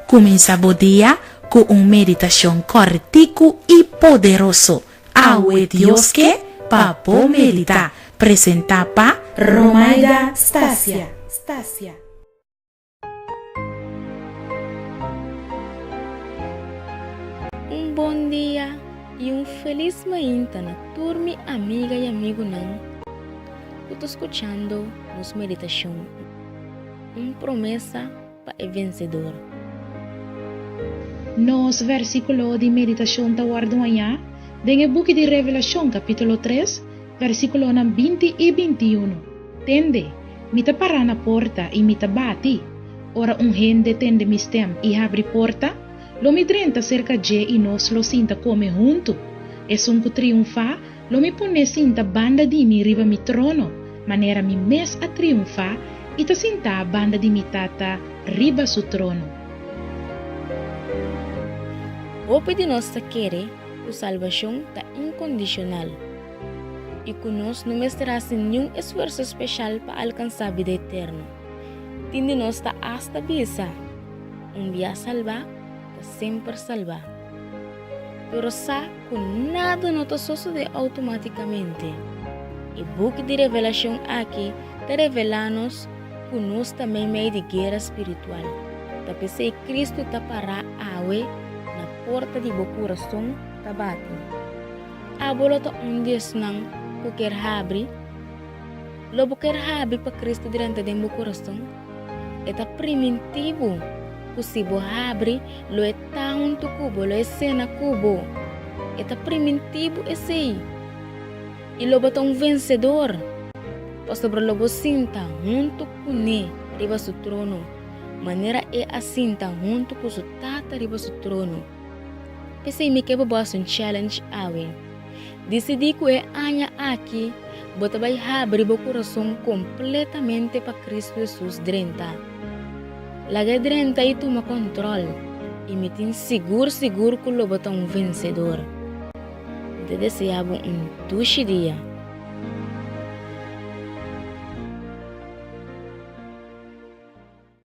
Cuminsa bo dia cu un meditacion corticu y poderoso Awe Dios Ke Pa Bo Medita! presenta pa Romaida Stasia. Un bon dia y un feliz mainta na tur mi amiga y amigunan cu ta scuchando nos meditacion Un promesa pa e vencedor. Nos versiculo di meditacion ta wordo haña den e buki di Revelacion capitulo tres, Bersíkulonan binti i binti unu, Tende, mi ta pará na porta i mi ta bati. Ora un hende tende mi stèm i habri porta, lo mi drenta serka dje i nos lo sinta kome huntu. Esun ku triunfá lo mi pon'é sinta banda di mi riba mi trono, manera mi mes a triunfá i ta sintá banda di mi Tata riba su trono. Hopi di nos ta kere Ku salbashon ta inkondishonal i ku nos no mester hasi niun esfuerso speshal pa alkansá bida eterno. Tin di nos ta asta bisa, Un bia salbá, ta semper salbá. Pero sa ku nada no ta sosodé outomátikamente. E buk di Revelashon aki ta revelá nos ku nos ta meimei di guera spiritual, ta p'esei Kristu ta pará awe na. Porta di bo kurason ta bati. Abo lo ta un di esnan ku kier habri? Lo bo kier habri pa Kristu drenta den bo kurason? E ta primintí bo ku si bo habri, lo e ta huntu ku bo, lo e sena ku bo. E ta primintí bo esei, i lo bo ta un vensedor, pasobra lo bo sinta huntu kuné riba su trono. manera e a sinta huntu ku su Tata riba su trono. P'esei mi ke bo bo hasi un challenge awe. Disidí ku e aña aki bo ta bai habri bo kurason kompletamente pa Kristu Hesus drenta. Laga e drenta i tuma kòntròl, i mi tin sigur sigur ku lo bo ta un vensedor. Mi ta deseá bo un dushi dia.